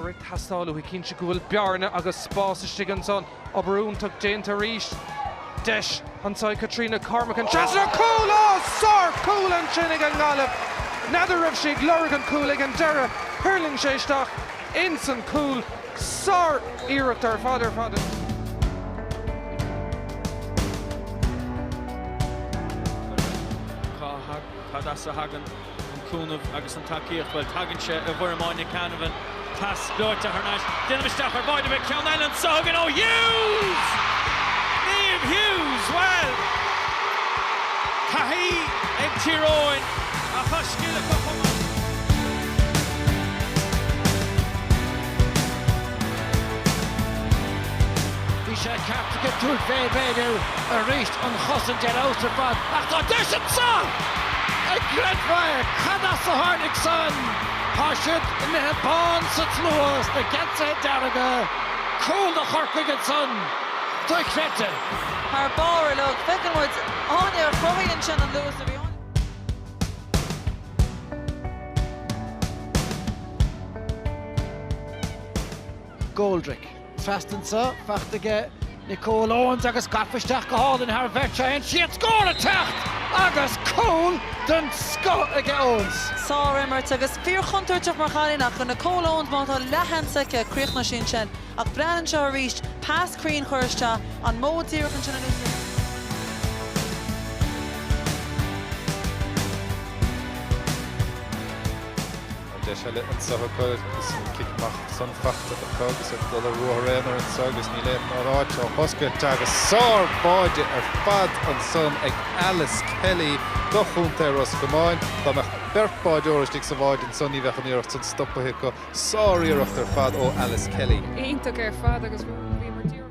atá ag teastáil uathu cinnte go bhfuil bearna agus spás istigh ansan. Obair iontach déanta arís. Deis anso ag Caitríona Cormican seans ar chúl! Ó, sár chúl ansin ag an nGaillimh! N'fheadar raibh sí ag lorg an chúil ag an deireadh, thuirling sé isteach insan chúl. Sár iarracht ar fad ar fad. Cad as a thagann an cúnamh agus an tacaíocht? Bhuel, tagann sé i bhfoirm Áine Canavan. Pas gleoite thar n-ais. D'ainm istigh ar báide, beidh ceann eile anso againn ó Hughes! Niamh Hughes, bhuel, gáirí ag Tír Eoghain a chosc uile acu chomh maith. Bhí sé ceaptha ag an tús bheith ag léiriú arís an chosaint ar fheabhas ar fad ach tá deis anseo! An gcreidfeá é, cad as a tháinig san? Tá siad imithe bán sa tslua sna geansaithe dearga. Cúl do Chorcaigh ansan. Dochreidte. Thar barr uilig. Feiceann muid Áine a chruthaíonn sin an luas a bhí. Goldrick. Pas trasna anseo, fachta aige Nicole Owens agus gafa isteach go hálainn thar bheirt, tá an-iarracht ar scór ag teacht! Agus cúl den scoth aige Owens! Sár-imirt, agus fíor-chontúirteach mar chailín, ach go Nicole Owens, má tá leath-sheans aici, críochnoidh sí ansin. Ach braitheann seo arís pas cruinn a chur isteach, an modh díreach ansin a luaitear. Tá deis eile anseo acu is an cic amach san fachta acu agus iad ag dul ar ruathar aonair anseo agus níl aon áit á hoscailt agus sárshábháil ar fad ansan ag Alice Kelly do chontae Ros Comáin. Dá mbeadh beirt báideoirí istigh sa bhád ansan ní bheadh an iarracht san stopaithe acu. Sár-iarracht ar fad ó Alice Kelly. Iontach ar fad agus bhíomar díreach.